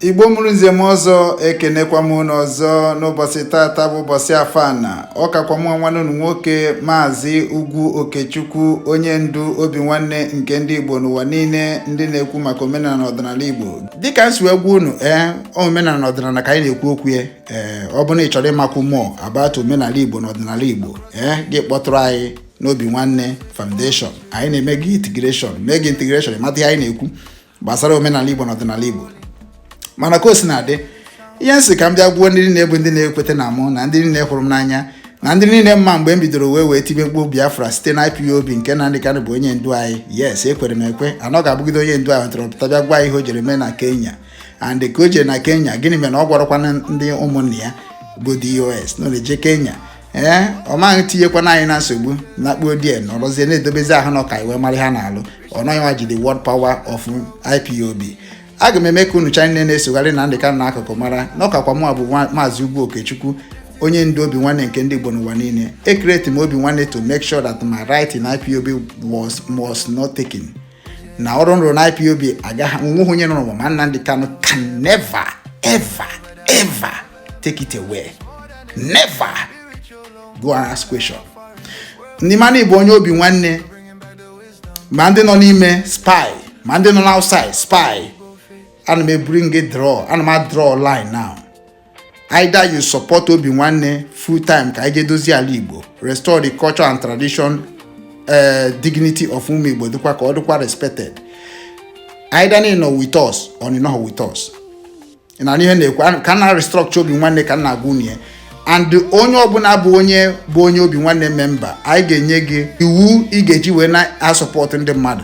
igbo mụrụ nze mụọ ọzọ ekenekwa m unu ọzọ n'ụbọchị tata bụ ụbọchị afọ ana ọkakwa m nwanne unu nwoke maazị ugwu okechukwu onye ndu obi nwanne nke ndị igbo n'ụwa niile ndị na-ekwu maka omenala na ọdịnala igbo dịka m si wee gwa unu ee eh, omenala na ọdịnala ka anyị na-ekwu okwu ya ee eh, ọ bụrụ na ị chọrọ ịmakwu more about omenala igbo na ọdịnala igbo ee eh, gị kpọtụrụ anyị n'obi nwanne foundation anyị na-eme gị integration mee gị integration mata ihe anyị na-ekwu gbasara omenala Igbo na ọdịnala Igbo mana ka o si na-adị ihe m sị ka m bịa gwa ndị niile bụ ndị na-ekweta na mụ na ndị niile hụrụ m n'anya na ndị niile ma mgbe m bidoro wee wee tibe mkpu Biafra site na IPOB nke Nnamdi Kanu bụ onye ndu anyị yes ekwere m ekwe na ọ ga-abụgide onye ndu anyị tọrọ pụta bịa gwa ihe o jere mee na Kenya and ka o jere na Kenya gịnị mere na ọ gwarọkwana ndị ụmụnne ya bụ DOS na ọ na-eje Kenya ee ọ maghị tinyekwana anyị na nsogbu lakpuo die nọrọzie na-edobezi ahụ na ọka iwe mara ha na-alụ ọ nọghị nwa ji the word power of IPOB aga m eme ka unu ncha niile na-esogharị Nnamdi Kanu n'akụkụ mara na ọkakwa mụ bụ maazị Ugwu Okechukwu onye ndu obi nwanne nke ndị Igbo n'ụwa niile e create m obi nwanne to make sure that my right in IPOB was not taken na ọrụ m rụrụ na IPOB agaghị onweghị onye nara m ma Nnamdi Kanu can never ever ever take it away never go and ask question ndị ma na ị bụ onye obi nwanne ma ndị nọ n'ime Spain ma ndị nọ n'outside Spain ana m e bring draw ana m a draw line now Either you support Obi Nwanne full time ka anyị jee dozie ala Igbo, restore the culture and tradition uh, dignity of ụmụ Igbo dịkwa ka ọ dịkwa respected. Either na ị nọ with us or na ị nọghị with us. na ihe m na-ekwu ka m na-restructure Obi Nwanne ka m na-agwa unu ya and onye ọbụla bụ onye bụ onye Obi Nwanne member anyị ga-enye gị iwu ị ga-eji wee na-asupport ndị mmadụ